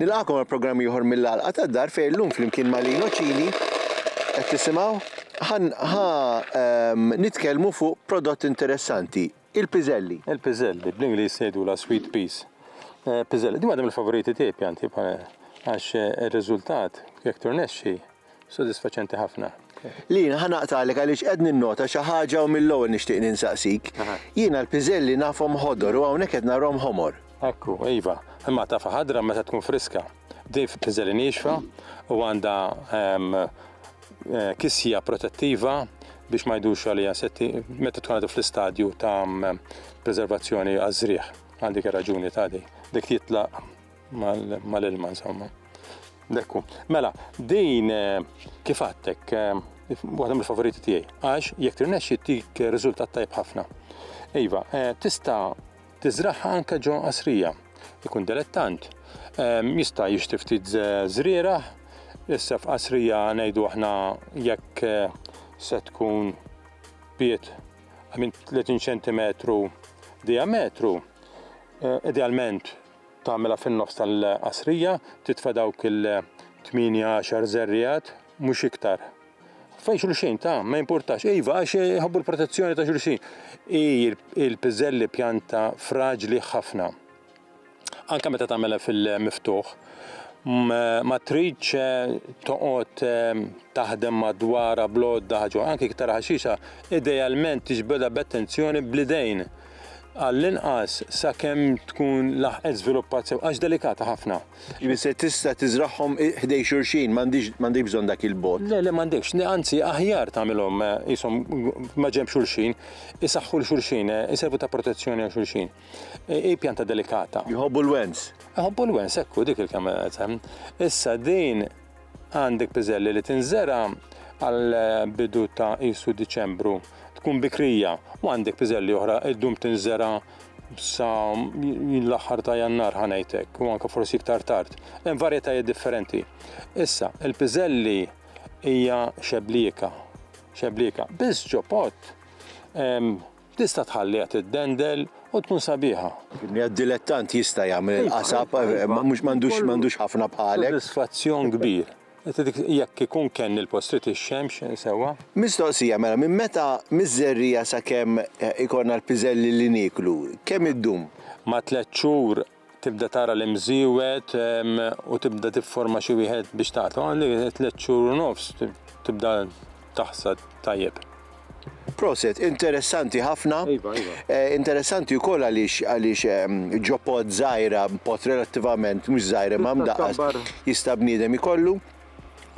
Nilqagħkom għal programm ieħor mill-Għalqa tad-Dar fejn illum flimkien ma' Lino Cini qed tisimgħu ħan ħa ehm, nitkellmu fuq prodott interessanti, il-piżelli. Il-piżelli, bl-Ingliż jgħidulha sweet peas. Eh, piżelli, din waħda mill-favoriti tiegħi pjanti bħal għax eh, ir-riżultat jekk turnexxi Sodisfaċenti ħafna. Lina, ħa naqtagħlek għaliex qed ninnota xi ħaġa u mill-ewwel nixtieq ninsaqsik. Jiena l-piżelli nafhom ħodor u hawnhekk qed narahom ħomor. Ekku, iva. Imma tafha ħadra meta tkun friska. Din f'piżelli niexfa u għandha kisja protettiva biex ma jdurx għaliha insetti meta tkun għadha fl-istadju ta' preservazzjoni għaż-żrigħ. Għal dik ir-raġuni tagħdi. Dik titlaq mal-ilma insomma. Dekku. Mela, din eh, kif għattek, eh, waħda mill-favoriti tiegħi, għax jekk tirnexxi tik riżultat tajb ħafna. Iva, eh, tista' tiżraħħa anke ġo qasrija, ikun delettant. Jista' jixtri ftit żriera, issa f'qasrija ngħidu aħna jekk se tkun piet minn 30 cm diametru, idealment Tagħmilha fin-nofs tal-qasrija, titfa' dawk il-tmienja għaxar żerriegħat, mhux iktar. Fejn xulxin ta' ma jimpurtax, iva għax jħobbu l-protezzjoni ta' xulxin. Hi il-piżelli pjanta fraġli ħafna. Anke meta tagħmilha fil-miftuħ, ma tridx toqgħod taħdem madwarha bl-għodda ħaġa, anke iktar ħaxixa, idealment tiġbidha b'attenzjoni bl-idejn. għall-inqas sakemm tkun laħqet żviluppat sew, għax delikata ħafna. Jiġifieri se tista' tiżragħhom ħdej xulxin, m'għandhiex bżonn dak il-bogħod. Le, le m'għandekx, anzi aħjar tagħmilhom qishom maġenb xulxin, isaħħu 'l xulxin, iservu ta' protezzjoni għal xulxin. Hi pjanta delikata. Jħobbu l-wens. Iħobbu l-wens, hekk hu, dik il-kelma li qed. Issa din. Għandek piżelli li tinżera' għal bidu ta' qisu Diċembru, tkun bikrija, u għandek piżelli oħra ddum tinżera' sa l-aħħar ta' Jannar ħa ngħid hekk, u anke forsi iktar tard. Hemm varjetajiet differenti. Issa, il-piżelli hija xeblieka, xeblieka, biss ġo pott Tista' tħalliha tiddendel u tkun sabiħa. Dilettant jista' jagħmel il-qasab, imma mhux m'għandux ħafna bħalek. Sodisfazzjon kbir. Jekk ikun kenn il-post irid ix-xemx sewwa. Mistoqsija, mela minn meta miż-żerriegħa sakemm ikollna l-piżelli li nieklu, kemm iddum? Ma' tliet xhur tibda tara l-imżiewed u tibda tifforma xi wieħed biex taqtlu, għandek tliet xhur u nofs tibda taħsad tajjeb. Proset, interessanti ħafna. Iva, iva. Eh, interessanti wkoll għaliex għaliex ehm, ġopod żgħira, pot relattivament mhux żgħira ma' mdaqqas jista' bniedem ikollu.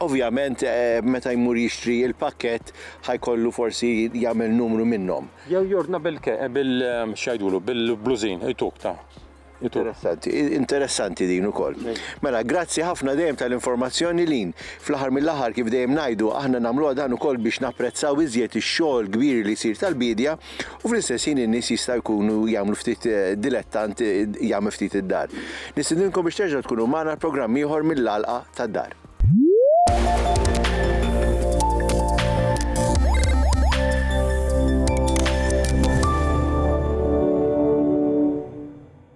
Ovvjament meta jmur jixtri l-pakkett ħa jkollu forsi jagħmel numru minnhom. Jew jordna bil bil x'għidulu bil-blużin ituk ta' Interessanti, interessanti din ukoll. Mela, grazzi ħafna dejjem tal-informazzjoni lin. Fl-aħħar mill-aħħar kif dejjem ngħidu aħna nagħmluha dan ukoll biex napprezzaw iżjed ix-xogħol kbir li jsir tal-biedja U fl-istess ħin in-nies jista' jkunu jagħmlu ftit dilettant jagħmel ftit id-dar. Nistidinkom biex terġgħu tkunu magħna l-programm ieħor mill-għalqa tad-dar.